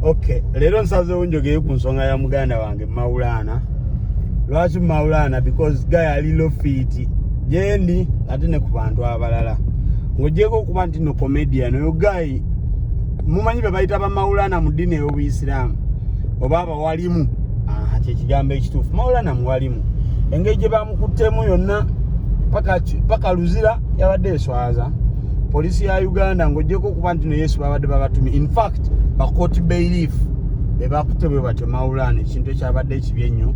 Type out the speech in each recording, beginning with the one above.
okay leero nsazeewo njogeye ku nsonga ya muganda wange maulaana lwaki maulaana because guy ali lofiiti gyendi ate ne ku bantu abalala ng'ogyeko okuba nti no comedian oyo guy mumanyi be bayita bamaulaana mu ddiini ey'obuyisiraamu oba walimu ah, kyekigambo ekituufu maulana muwalimu engeri gye bamukuttemu yonna paka luzira yabadde eswaza poliisi ya uganda ngaogyeko okuba nti no yesu babadde babatumi infact bakoti bailief bebakutte bwe batyo maulana ekintu ekyabadde ekibi ennyo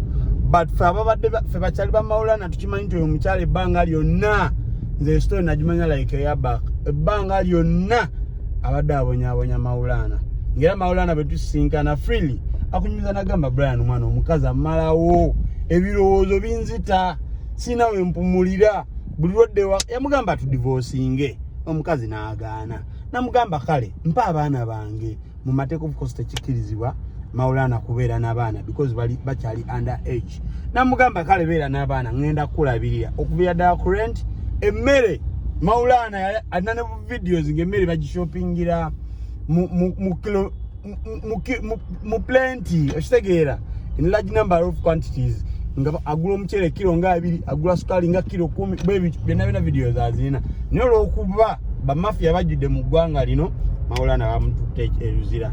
but fe ababadde fe bakyali ba maulana tukimanyi nti oyo mukyalo ebbanga lyonna nze esitole nagimanya like eyabak ebbanga lyonna abadde abonyabonya mawulaana ngaera mawulaana bwe tusisinkana freely akunyumiza nagamba brian omwana omukazi amalawo ebirowoozo binzita sirina we mpumulira buli lwadde yamugamba tudivoosinge omukazi n'agaana namugamba kale mpa abaana bange mu mateeka obukosi tekikkirizibwa mawulaana kubeera n'abaana because bali bakyali under age namugamba kale beera n'abaana ŋŋenda kukulabirira okubeera ddala ku rent emmere mawulaana alina ne videos ng'emmere bagishopingira mu mu mu kilo mu plenty okitegeera in large number of quantities nga agula omuceere kiro nga abiri agula sukaali nga kiro kumi bwebityo byonna byona vidiyo zazirina naye olwokuba bamafiya bajjudde mu ggwanga lino mawulana bamututte eruzira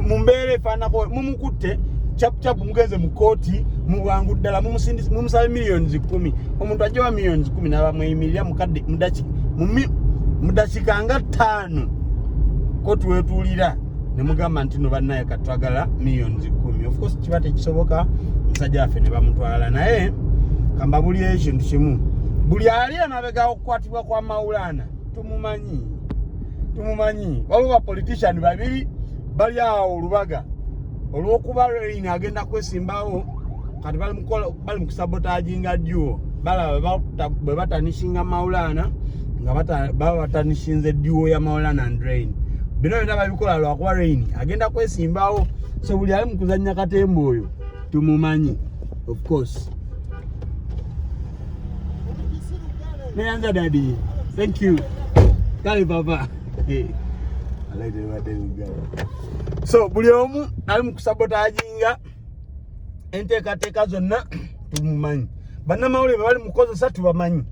mu mbeera efaanako mumukutte capucapu mugenze mu kooti mubwangu ddala mumusala millions kumi omuntu ajja wa millions kumi nabamweyimirira mukadde mudaki mudakika nga ttaano ko twetuulira ne mugamba nti no bannaye katwagala millions kumi ofcourse kiba tekisoboka musajja waffe ne bamutwala naye kamba buli ekintu kimu buli ali emabega okukwatibwa kwa mawulana tumumanyi tumumanyi waliwo bapolitician babiri bali awo olubaga olwokuba rein agenda kwesimbawo kati bali mukola bali mukusabotaginga duo balaba bwe batanishinga maulana nga baba batanishinze duo ya maulana and rain bino byona babikola lwakuba rain agenda kwesimbawo so buli ali mukuzanya katemba oyo tumumanyi of course neyanza dadi thank you kale papa hey. so buli omu ali mukusabotaginga enteekateeka zonna tumumanyi bannamawulire bebali mukozesa tubamanyi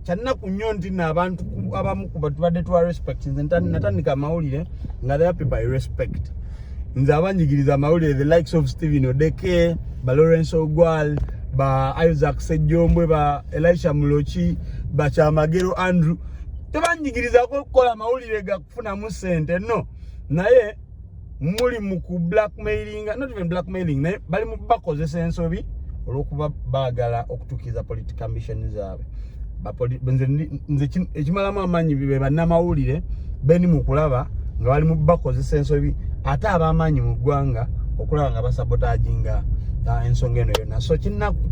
kyannaku nnyo nti no abantu abamu kubatubadde tuwa respect nze natandika amawulire nga the happy by respect nze abanjigiriza amawulire the likes of stephen odeke ba lawrence ogwal ba isaac sejjombwe ba elisha muloki bakyamagero andrew tebanjigirizako okukola amawulire gakufunamu sente no naye muli mu ku blackmailing not even blackmailing naye bali mu bakozesa ensobi olwokuba baagala okutuukiriza political mission zaabwe nze ekimalamu amaanyi be bannamawulire beni mu kulaba nga bali mu bakozesa ensobi ate ab'amaanyi mu ggwanga okulaba nga basabotaginga ah, ensonga eno yonna so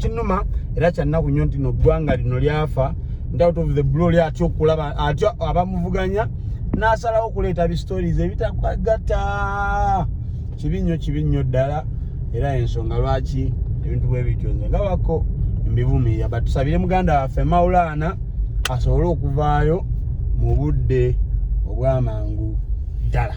kinnuma era kyannaku nnyo nti no ggwanga lino lyafa ntout of the blo lyatya okulaba atya abamuvuganya n'asalawo okuleeta bistories ebitagatta kibi nnyo kibi nnyo ddala era ensonga lwaki ebintu bwe bityo nze nga wako mbivumirira but tusabire muganda waffe maulaana asobole okuvaayo mu budde obw'amangu ddala